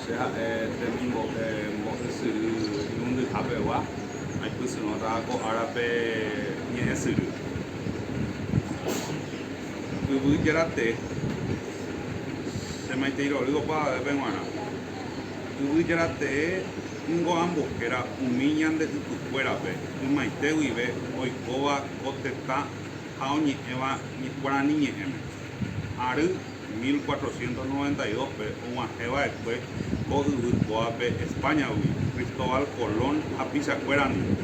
Che ha'e temimbo'e mbo'esyry irundyhapegua, aipysyrõtava ko árape ñe'ẽsyry. Yvy jerate, Che maitei rory opavavépe g̃uarã. Yvy jerate ningo ambohéra umi ñande ypykuérape ymaite guive oikóva ko tetã ha oñe'ẽva Guarani ñe'ẽme. Ary. 1492-pe og̃uahẽ va'ekue ko yvy kóape España-gui, Cristóbal Colón hapichakuéra ningo,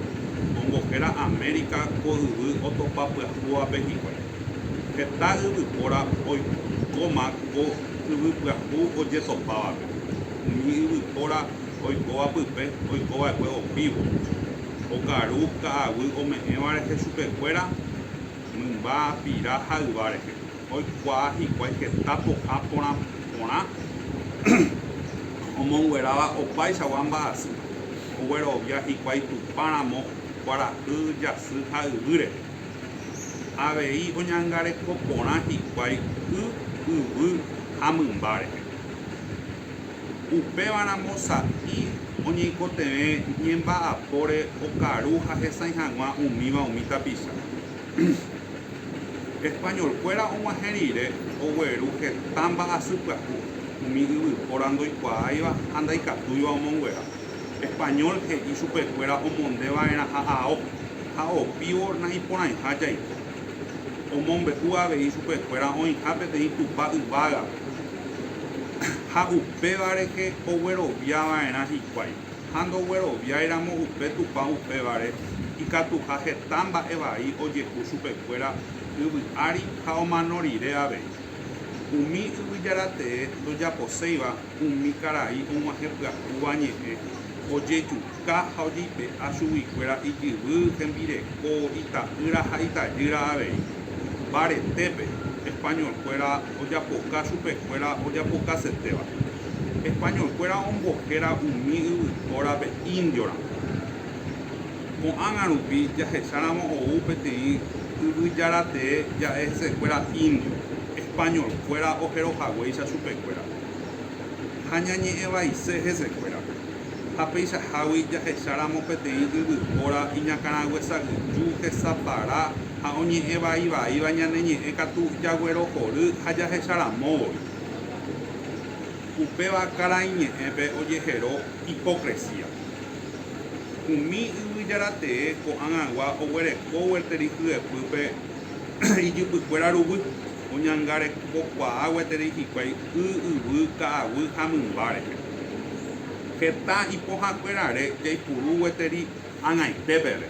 ombohéra América ko yvy otopa pyahúvape hikuái. Heta yvypóra oikóma ko yvy pyahu ojetopávape. Umi yvypóra oikóva pype oiko va'ekue opívo, okaru ka'aguy ome'ẽva rehe chupekuéra mymba pira ha yva rehe. Oikuaa hikuái heta po'a porã porã omongueráva opaichagua mba'asy, oguerovia hikuái Tupã ramo kuarahy, jasy ha yvýre. Avei oñangareko porã hikuái y, yvy ha mymba rehe. Upéva ramo sa'i oñeikotevẽ ñemba'apóre okaru ha hesãi hag̃ua umíva umi tapicha. Españolkuéra og̃uahẽ rire ogueru heta mba'asy pyahu umi yvypóra ndoikuaáiva ha ndaikatúiva omonguera. Español he'i chupekuéra omonde va'erãha ao ha opívo na'iporãiha jaiko. Omombe'u avei chupekuéra oĩha peteĩ Tupã yvágape ha upéva rehe oguerovia va'erã hikuái. ha ndogueroviáiramo upe Tupã upévare, ikatuha heta mba'e vai ojehu chupekuéra yvy ári ha omano rire avei. Umi Yvyjara Tee ndojaposéiva umi karai og̃uahẽ pyahúva ñe'ẽ, ojejuka ha ojeipe'a chuguikuéra ijyvy, hembireko, ita'ýra ha itajýra avei. Mbaretépe, españolkuéra ojapoka chupekuéra ojapokasetéva. Españolkuéra ombohéra umi yvypórape indioramo. Ko'ág̃a rupi jahecháramo ou peteĩ yvyjaratee ja'e hesekuéra indio, españolkuéra ojerohaguéicha chupekuérape ha ñañe'ẽvaise hesekuérape. ha peichahágui jahecháramo peteĩ yvypóra iñakãraguesagyju hesapara ha oñe'ẽvaivaíva ñane ñe'ẽ katu jaguerohory ha jahecharamóvoi. Upéva karaiñe'ẽpe ojehero hipokresía. Umi Yvyjára Tee ko'ag̃agua oguereko gueteri hyepýpe ijypykuéra ruguy, oñangarekokuaa gueteri hikuái. y yvy, ka'aguy ha mymbáre. Heta ipohãkuérare jaipuru gueteri ag̃aite peve.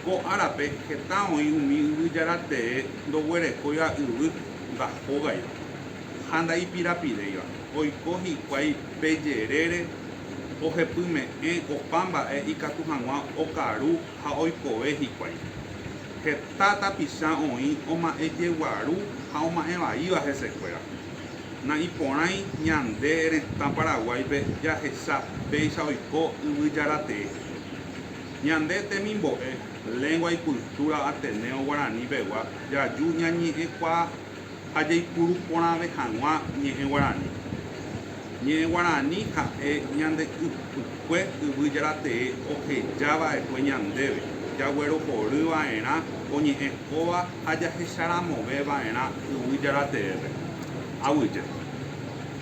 Ko árape heta oĩ umi yvyjára tee ndoguerekóiva yvy ndahógaiva ha ndaipirapiréiva, oiko hikuái pe jerére ohepyme'ẽ opa mba'e ikatu hag̃ua okaru ha oikove hikuái. Heta tapicha oĩ oma'ẽjeguaru ha oma'ẽvaíva hesekuéra. Na'iporãi ñande retã Paraguáipe jahecha péicha oiko Yvyjaratee. Ñande temimbo'e, lengua y cultura ateneo guaraní pegua jaju ñañe'ẽkuaa. ha jaipuru porãve hag̃ua ñe'ẽ guarani. Ñe'ẽ guarani ha'e ñande ypykue yvy jaratee oheja va'ekue ñandéve, jaguerohory va'erã oñe'ẽ kóva ha jahecharamove va'erã yvy jarateépe. Aguyje.